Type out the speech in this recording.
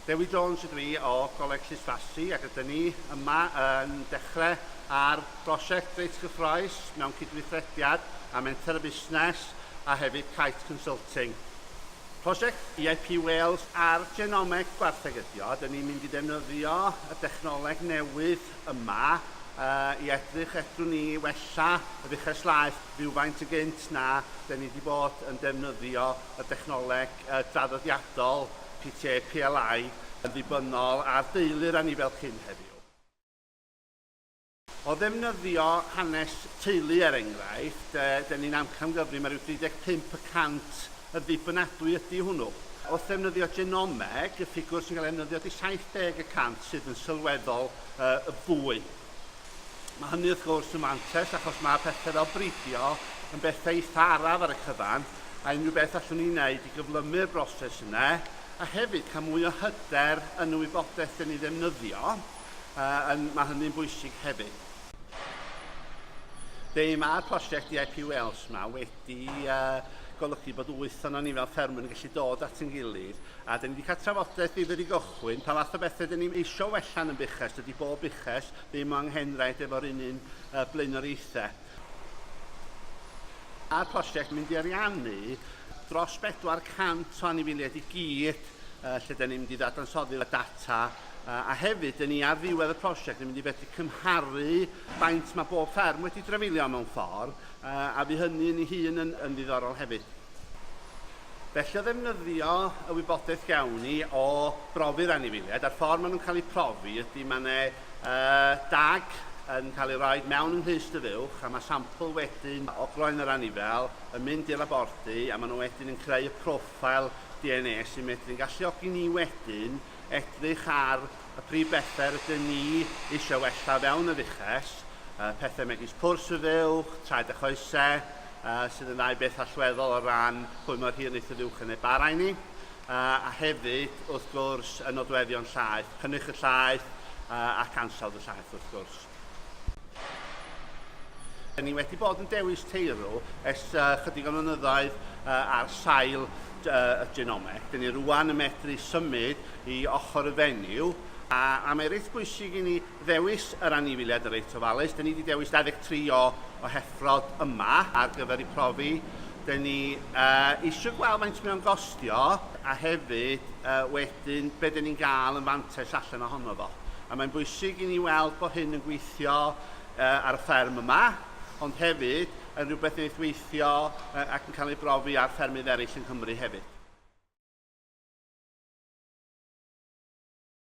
Dewi Jones ydw i o Goleg Llysfasi ac rydyn ni yma yn dechrau ar brosiect reit gyffroes mewn cydweithrediad â Menter y Busnes a hefyd Kite Consulting. Prosiect EIP Wales ar Genomeg Gwartheg ydi o, dyn ni'n mynd i ddefnyddio y dechnoleg newydd yma i edrych fedrwn ni wella yr uchelslaeth rywfaint yn gynt na 'den ni wedi bod yn defnyddio y dechnoleg draddodiadol PTA PLI yn ddibynnol ar deulu'r anifail cyn heddiw. O ddefnyddio hanes teulu er enghraifft, 'den ni'n amcangyfrif mae rhyw 35 y cant yn ddibynadwy ydi hwnnw. Wrth ddefnyddio genomeg, y ffigwr sy'n cael ei ddefnyddio ydi 70 y cant sydd yn sylweddol yy fwy. Mae hynny wrth gwrs yn fantes achos mae pethau fel bridio yn bethau eitha araf ar y cyfan a unrhyw beth allwn ni wneud i gyflymu'r broses yna a hefyd cael mwy o hyder yn y wybodaeth dyn ni ddefnyddio, uh, yn, mae hynny'n bwysig hefyd. Be mae'r prosiect IIP Wales yma wedi 'di golygu bod wyth ohonon ni fel ffermwyr yn gallu dod at ein gilydd a dyn ni wedi cael trafodaeth ddifyr i gychwyn pa fath o bethau dyn ni'n eisiau wella'n yn buches, dydy bob buches ddim o anghenraid efo'r un un uh, blaenoriaethau. A'r prosiect mynd i ariannu dros 400 o anifeiliaid i gyd uh, lle dyn ni'n mynd i ddadansoddi'r data uh, a hefyd dyn ni ar ddiwedd y prosiect yn mynd i fedru cymharu faint mae bob fferm wedi drafeilio mewn ffordd Yy a fu hynny yn ei hun yn yn ddiddorol hefyd. Felly o ddefnyddio y wybodaeth gawn ni o brofi'r anifeiliaid a'r ffordd maen nhw'n cael eu profi ydy mae yna yy dag yn cael ei roi mewn yn Nghlust y Fuwch a mae sampl wedyn o groen yr anifel yn mynd i'r labordy a maen nhw wedyn yn creu y profile DNA sy'n medru'n galluogi ni wedyn edrych ar Y prif bethe rydyn ni eisiau wella o fewn y fuches, pethe megis pwrs y fuwch, traed a choese, sydd yn ddau beth allweddol o ran pwy mor hir wneith y fuwch yn ei bara i ni, a hefyd, wrth gwrs, y nodweddion llaeth, cynnyrch y llaeth ac ansawdd y llaeth, wrth gwrs. Dyn ni wedi bod yn dewis teirw ers uh, chydig o flynyddoedd uh, ar sail uh, y genome. Dyn ni rwan yn medru symud i ochr y fenyw a, a mae reit bwysig i ni ddewis yr anifiliad yn reit ofalus. Dyn ni wedi dewis 23 o, o heffrod yma ar gyfer ei profi. Dyn ni uh, eisiau gweld faint mae'n gostio a hefyd yy wedyn be' 'dyn ni'n ga'l yn fantais allan ohono fo. A mae'n bwysig i ni weld bod hyn yn gweithio uh, ar y fferm yma, ond hefyd yn rhywbeth wneith weithio uh, ac yn cael ei brofi ar ffermydd eraill yng Nghymru hefyd.